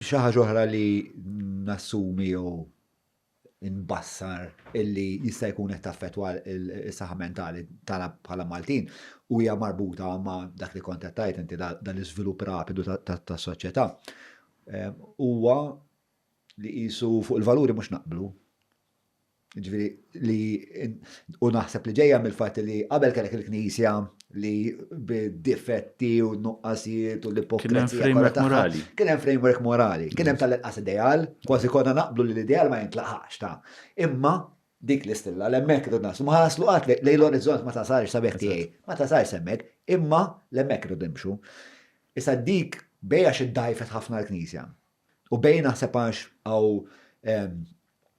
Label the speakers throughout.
Speaker 1: Xi ħaġa oħra li nassumi jew inbassar illi jista' jkun qed taffettwa s-saħħa mentali tagħna bħala Maltin u hija marbuta ma' dak li kont qed tgħid inti dan l-iżvilupp rapidu tas-soċjetà huwa li qisu fuq il-valuri mhux naqblu. Ġifieri li u naħseb li ġejja mill-fatt li qabel kellek il-Knisja li bid-difetti u nuqqasijiet u l-ipokrezija. Kien hemm framework morali. Kien hemm framework morali. Kien hemm tal-inqas ideal, kważi konna naqblu li l-ideal ma jintlaqax ta' imma dik l-istilla l-hemmhekk irrid naslu. Ma ħaslu qatt lej l-orizzont ma tasalx sabiħ tiegħi. Ma tasalx hemmhekk, imma l-hemmhekk irrid nimxu. Issa dik bejn għax iddgħajfet ħafna l-Knisja. U bejn naħseb għax hawn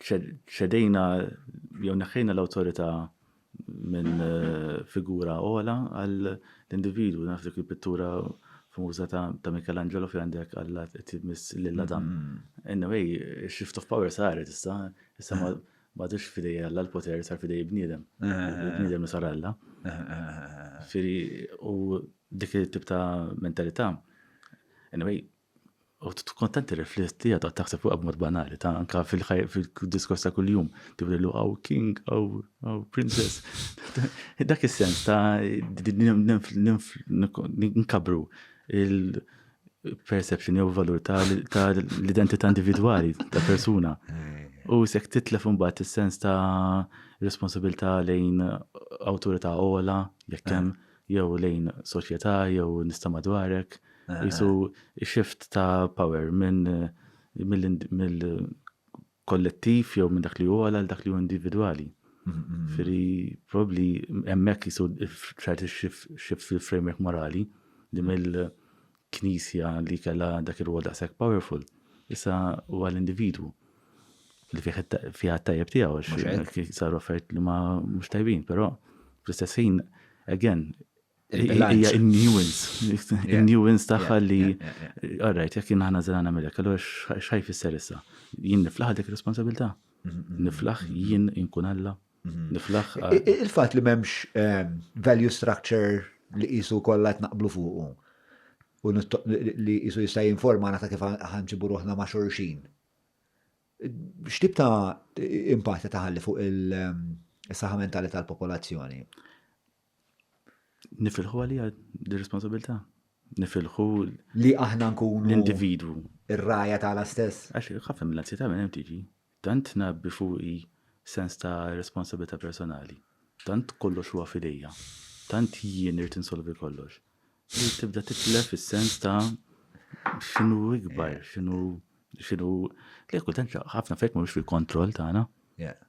Speaker 2: ċedejna jew neħħejna l-awtorità minn eh, figura ola għal individu naf dik il-pittura famuża ta' Michelangelo fi għandek għalla tibmis lilla dan. Mm-hmm. Anyway, shift of power saret issa, issa ma dux fidej għalla l-poter sar fidej bniedem. Eh. Bniedem sar għalla. Eh, Firi, u dik il-tip ta' mentalità. Anyway, U tkun tant tirrifletti għadha taħseb fuqha b'mod banali, ta' anka fil-diskors ta' kuljum, tibdilu għaw king, għaw princess. Dak is-sens ta' nkabru il-perception jew valur ta' l-identità individwali ta' persuna. U sekk titlef imbagħad is-sens ta' responsabilità lejn awtorità ola, jekk hemm jew lejn soċjetà jew nies ta' madwarek, qisu shift ta' power minn mill-kollettiv jew minn dak li hu ogħla għal dak li hu individwali. Iġifieri probabbli hemmhekk qisu ċerti shift fil-framework morali li mill Knisja li kellha dak ir-rwol daqshekk powerful, issa huwa l-individwu li fih fiha t-tajjeb tiegħu għax saru affarijiet li ma mhux tajbin, però fl-istess ħin again hija in-nuance, in-nuance tagħha li alright jekk jien aħna żra nagħmilek, allura x'ħaj fisser issa? Jien niflaħ dik responsabilità? Niflaħ jien inkun Alla? Mhm. Il-fat li
Speaker 1: memx ehm, value structure li jisu kollha qed naqblu fuqu u li jisu jista' jinforma ta' kif ħanġibu ruħna ma' xorxin. X'tib ta' impatti taħalli fuq il-saħħa ehm, mentali tal-popolazzjoni?
Speaker 2: Nifilħu għalija di responsabilità. Nifilħu li aħna
Speaker 1: nkunu l-individwu.
Speaker 2: Ir-raja tagħna
Speaker 1: stess. Għax ħafna mill-anzjetà
Speaker 2: minn hemm tiġi. Tant tngħabbi fuqi sens ta' responsabbiltà personali. Tant kollox huwa f'idejja. Tant jien irid insolvi kollox. Li tibda titlef is-sens ta' x'inhu ikbar, x'inhu, x'inhu, le kultant ħafna affarijiet mhumiex fil-kontroll tagħna.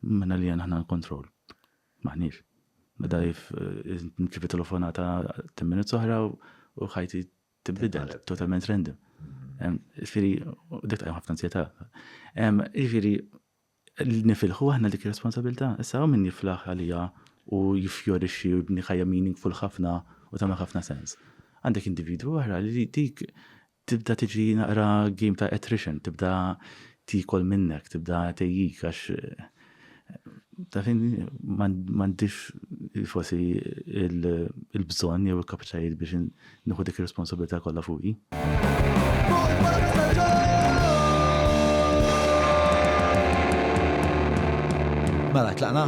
Speaker 2: Minna lija aħna l-kontroll. M'aħniex. Meta nirċievi telefonata ten minutes oħra u ħajti tibdel totalment random. Ġifieri, dik tqajjem ħafna ansjetà. Ġifieri, nifilħu aħna dik ir-responsabilità. Issa hawn min jiflaħ għalija u jiffjorixxi u jibni ħajja meaningful ħafna u tagħmel ħafna sens. Għandek individwu oħra li dik tibda tiġi naqra game ta' attrition, tibda tikol minnek, tibda tejjik għax Ta' fin m'għandix forsi il-bżonn jew il-kapaċitajiet biex nieħu dik ir-responsabilità kollha fuqi.
Speaker 1: Mela, tlaqna?